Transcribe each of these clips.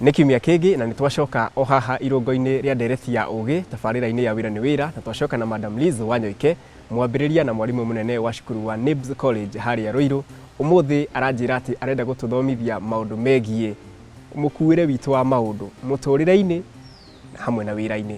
Nĩ kiumia kĩngĩ na nĩ twacoka o haha irũngo-inĩ rĩa ndereti ya ũgĩ tabarĩra-inĩ ya wĩra nĩ wĩra na twacoka na Madam Liz Wanyoike mwambĩrĩria na mwarimũ mũnene wa cukuru wa NIBS College harĩa Rũirũ. Ũmũthĩ aranjĩra atĩ arenda gũtũthomithia maũndũ megiĩ mũkuĩre witũ wa maũndũ mũtũrĩre-inĩ hamwe na wĩra-inĩ.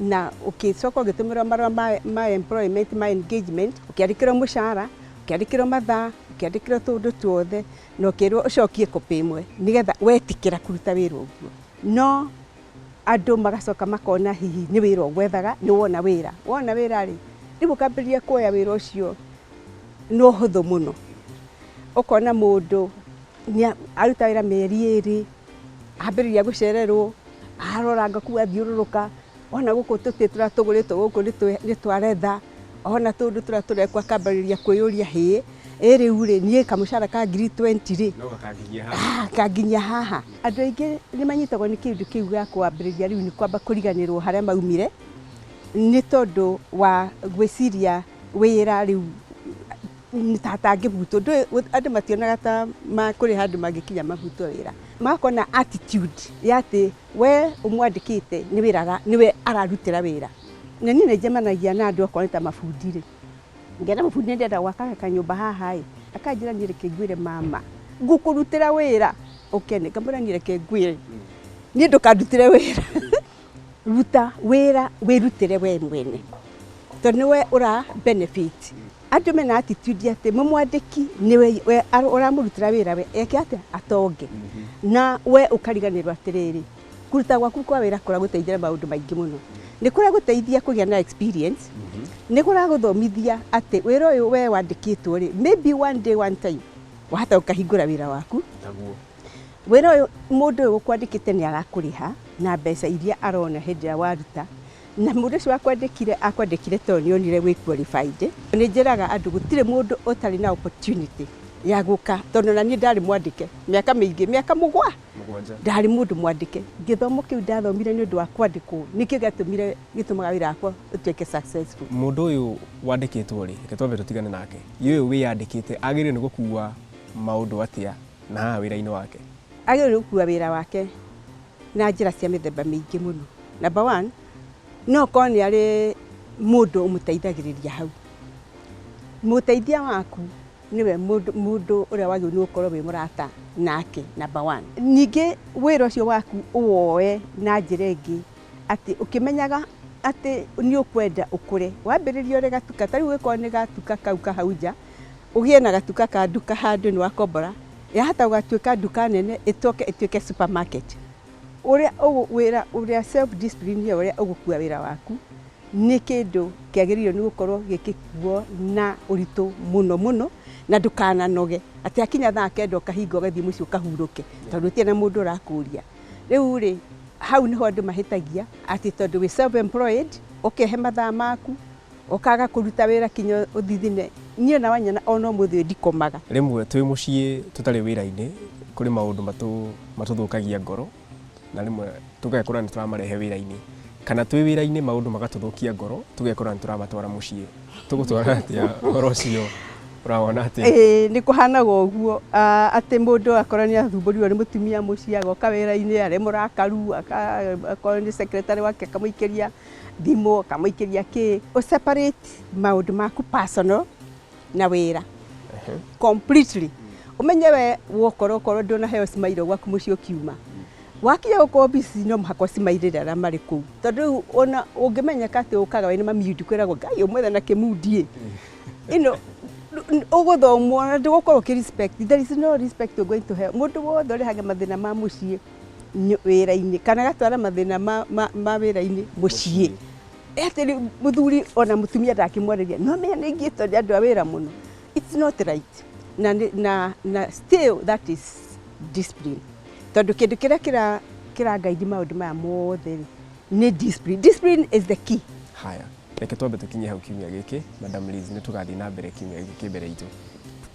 na ũkĩcoka ũgĩtũmĩrwo marũa ma, ma employment ma engagement ũkĩandĩkĩrwo mũcara ũkĩandĩkĩrwo mathaa ũkĩandĩkĩrwo tũũndũ tuothe na ũkĩrwo ũcokie copy ĩmwe nĩgetha wetĩkĩra kũruta wĩra ũguo no andũ magacoka makona hihi nĩ wĩra ũgwethaga nĩ wona wĩra wona wĩra rĩ rĩu ũkambĩrĩria kwoya wĩra ũcio na ũhũthũ mũno ũkona mũndũ nĩa, aruta wĩra mĩeri ĩrĩ ambĩrĩria gũcererwo arora ngaku athiũrũrũka ona gũkũ tũtĩ tũrĩa tũgũrĩtwo gũkũ nĩ twa retha ona tũndũ tũrĩa tũrekwo akambĩrĩria kwĩyũria hĩ ĩ rĩu rĩ niĩ kamũcara ka ngiri 20 rĩ kanginyia haha andũ aingĩ nĩ manyitagwo nĩ kĩndũ kĩu gĩa kwambĩrĩria rĩu nĩ kwamba kũriganĩrwo harĩa maumire nĩ tondũ wa gwĩciria wĩra rĩu Tangĩ butwo andũ mationaga ta kũrĩ handũ mangĩkinya mabutwo wĩra magakorwo na attitude ya atĩ we ũmwandĩkĩte nĩ wĩra nĩwe ararutĩra wĩra. Na niĩ nĩ njemanagia na andũ okorwo nĩ ta mabundi rĩ, ngera mũbundi nĩ ndĩrenda gwaka kanyũmba haha ĩ, akanjĩra niĩ reke ngwĩre mama ngũkũrutĩra wĩra ũkene. Ngamwĩra niĩ reke ngwĩre niĩ ndũkandutĩre wĩra ruta wĩra wĩrutĩre we mwene tondũ nĩwe ũra benefit. Andũ mena attitude atĩ mũmwandĩki nĩwe we ara- ũramũrutĩra wĩra we eke atĩa atonge na we ũkariganĩrwo atĩrĩrĩ kũruta gwaku kwa wĩra kũragũteithia na maũndũ maingĩ mũno nĩ kũragũteithia kũgĩa na experience nĩ kũragũthomithia atĩ wĩra ũyũ we wandĩkĩtwo rĩ maybe one day one time wahota ũkahingũra wĩra waku Naguo. wĩra ũyũ mũndũ ũyũ ũkwandĩkĩte nĩ arakũrĩha na mbeca iria arona hĩndĩ ĩrĩa waruta Na mũndũ ũcio wakwandĩkire akwandĩkire tondũ nĩ onire wĩ qualified. Nĩ njĩraga andũ gũtirĩ mũndũ ũtarĩ na opportunity ya gũka tondũ ona niĩ ndarĩ mwandĩke mĩaka mĩingĩ, mĩaka mũgwa, ndarĩ mũndũ mwandĩke. Gĩthomo kĩu ndathomire nĩ ũndũ wa kwandĩkwo nĩkĩo gĩatũmire gĩtũmaga wĩra wakwa ũtuĩke successful. Mũndũ ũyũ wandĩkĩtwo rĩ, reke twambe tũtigane nake. Ye ũyũ wĩyandĩkĩte agĩrĩirwo nĩ gũkua maũndũ atĩa na haha wĩra-inĩ wake? Agĩrĩirwo nĩ gũkua wĩra wake. na njĩra cia mĩthemba mĩingĩ mũno. Number one, no korwo nĩ arĩ mũndũ ũmũteithagĩrĩria hau. Mũteithia waku nĩwe mũndũ ũrĩa wagĩrĩirwo nĩ gũkorwo wĩ mũrata nake number one. Ningĩ wĩra ũcio waku ũwoe na njĩra ĩngĩ atĩ ũkĩmenyaga atĩ nĩ ũkwenda ũkũre. Wambĩrĩrie ũrĩ gatuka, ta rĩu ũngĩkorwo nĩ gatuka kau ka hau nja, ũgĩe na gatuka ka nduka handũ nĩ wakombora, yahota gũgatuĩka nduka nene ĩcoke ĩtuĩke supermarket. Ũrĩa wĩra ũrĩa self discipline ĩyo ũrĩa ũgũkua wĩra waku nĩ kĩndũ kĩagĩrĩirwo nĩ gũkorwo gĩgĩkuo na ũritũ mũno mũno na ndũkananoge atĩ hakinya thaa kenda ũkahinga ũgathiĩ mũciĩ ũkahurũke tondũ gũtirĩ na mũndũ ũrakũria. Rĩu rĩ, hau nĩho andũ mahĩtagia atĩ tondũ wĩ self employed ũkehe mathaa maku. Ũkaaga kũruta wĩra kinya ũthithine. Niĩ na wanyina o na ũmũthĩ ũyũ ndikomaga. Rĩmwe twĩ mũciĩ tũtarĩ wĩra-inĩ, kũrĩ maũndũ matũthũkagia ngoro, na rĩmwe tũgekora nĩ tũramarehe wĩra-inĩ. Kana twĩ wĩra-inĩ maũndũ magatũthũkia ngoro, tũgekora nĩ tũramatwara mũciĩ. Tũgũtwara atĩa ũhoro ũcio? Ũrawona atĩa? Ĩĩ, nĩ kũhaanaga ũguo, atĩ mũndũ akorwo nĩ athumbũrirwo nĩ mũtumia mũciĩ, agoka wĩra-inĩ arĩ mũrakaru, akorwo nĩ secretary wake akamũikĩria. thimũ ũkamũikĩria kĩ ũ separate maũndũ maku personal na wĩra completely umenye we wokorwo korwo ndũnaheo cimairwo gwaku mũciĩ ũkiuma wakinya gũkũ obici no mũhaka ũcimairĩre arĩa marĩ kũu tondũ rĩu ona ũngĩmenyeka atĩ ũkaga wĩna mamiundi kwĩragwo ngai ũmwethe na kĩmundiĩ ĩno ũgũthomwo na ndũgũkorwo ũkĩ respect there is no respect you're going to hell mũndũ wothe ũrehage mathĩna ma mũciĩ wĩra-inĩ kana ĩgatwara mathĩna ma wĩra-inĩ mũciĩ. Atĩ rĩu mũthuri ona mũtumia ndangĩmwarĩria. Nĩ wamenya nĩ aingĩte nĩ andũ a wĩra mũno. It's not right. Na still that is discipline. Tondũ kĩndũ kĩrĩa kĩra guide maũndũ maya mothe rĩ, nĩ discipline. Discipline is the key. Haya. Reke twambe tũkinye hau kiumia gĩkĩ. Madam Liz, nĩ tũgathiĩ na mbere kiumia gĩkĩ kĩ mbere itũ.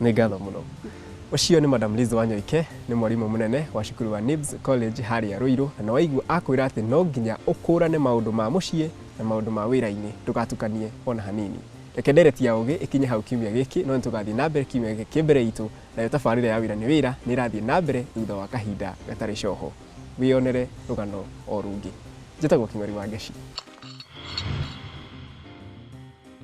Nĩ ngatho mũno. Ũcio nĩ Madam Liz Wanyoike, nĩ mwarimũ mũnene wa cukuru wa NIBS College harĩa Ruiru, na nĩ waigua akwĩra atĩ no nginya ũkũrane maũndũ ma mũciĩ na maũndũ ma wĩra-inĩ, ndũgatukanie ona hanini. Reke ndereti ya ũgĩ ĩkinye hau kiumia gĩkĩ, no nĩ tũgathiĩ na mbere kiumia gĩkĩ kĩ mbere itũ, nayo tabarĩra ya wĩra nĩ wĩra nĩ ĩrathiĩ na mbere thutha wa kahinda gatarĩ coho. Wĩyonere rũgano o rũngĩ. Njĩtagwo Kĩng'ori Wangeci.